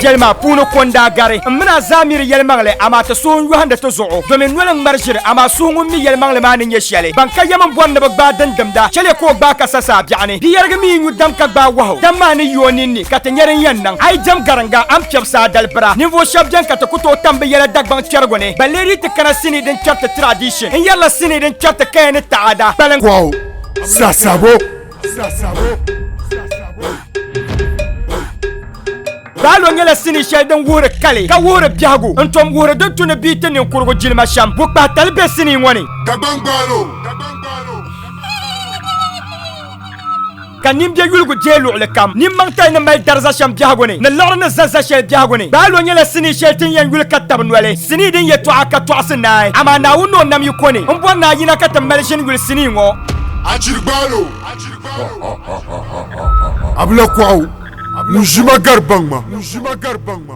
yɛlima puuni konda gari n bɛna zamiri yɛlimaŋli amaa ti suhu yɔhindi ti zuɣu domin noli ŋmari ʒiri amaa suhu ŋun mi yɛlimaŋli maa ni nyɛ shɛli ban ka yɛm n bɔri ni bi gbaai din dimda chɛliya ka o gbaai ka sa saa biɛɣuni di yɛrigi mi nyu dam ka gbaai wahu dam maa ni yi o ninni ka ti nya din yɛn niŋ. A yi jɛm gariŋga, a ni piɛbi saa dalibira. Ninvuɣ shɛb beni ka ti ku tooi tam bɛ yɛla Dagbaŋ kpɛrigu ni. Ba leei di ti kana sinii din kpɛri ti tiraadiishin. N yɛrila sinii din kpɛri ti kaya ni taada. Kpaliŋ. Kɔhu sasabo. Baalo nyɛla sinii shɛli din wuhiri kali, ka wuhiri biɛhigu, n-tom wuhiri din tu ni bɛ yi ti niŋkurugu jilima shɛm. Bukpahitali be sinii ŋɔ ni. Dagbaŋ Baalo. Ka nimbia yuligu deei luɣili kam. Nimmaŋ tali ni mali dari za shɛm biɛhigu ni, ni liɣiri ni za za shɛli biɛhigu ni. Baalo nyɛla sinii shɛli ti ni yɛn yuli ka tabi noli, sinii din yɛtɔɣa ka tɔɣisi naai. Amaa Naawuni ni o nam yi ko ni, m bɔri ni a yina ka ti mali ʒini yuli sinii ŋɔ. A chiri baalo. Abila kɔɣu ŋun ʒi ma gari baŋ ma.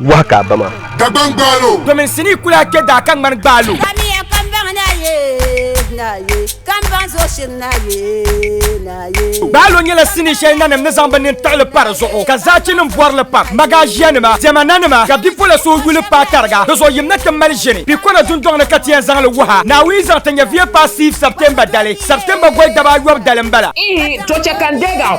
Wahi ka a ba maa. Dagbaŋ gbaal o. Domin n sinii kul a kpe daa ka ŋmani gbaal o. Kamiya kambaŋ na ye, na ye. Kambaŋ zuɣu shiri na ye, na ye. Gbaal o nyɛla sinii shɛli nanim ni zaŋ bɛ nini tiɣi li pa di zuɣu ka zaachinim bɔri li pam. Magaaʒianima, diɛma nanima ka bipola suhu yu li paai tariga di zuɣu. Yim na ti mali ʒini Pikona dundɔŋ ni ka ti yɛn zaŋ li wuha Naawuni zaŋ ti nyɛ Via Passive September dali. September goli dabaa ayɔbu dali m-bala. Ihi, to chɛ ka n deeg a o.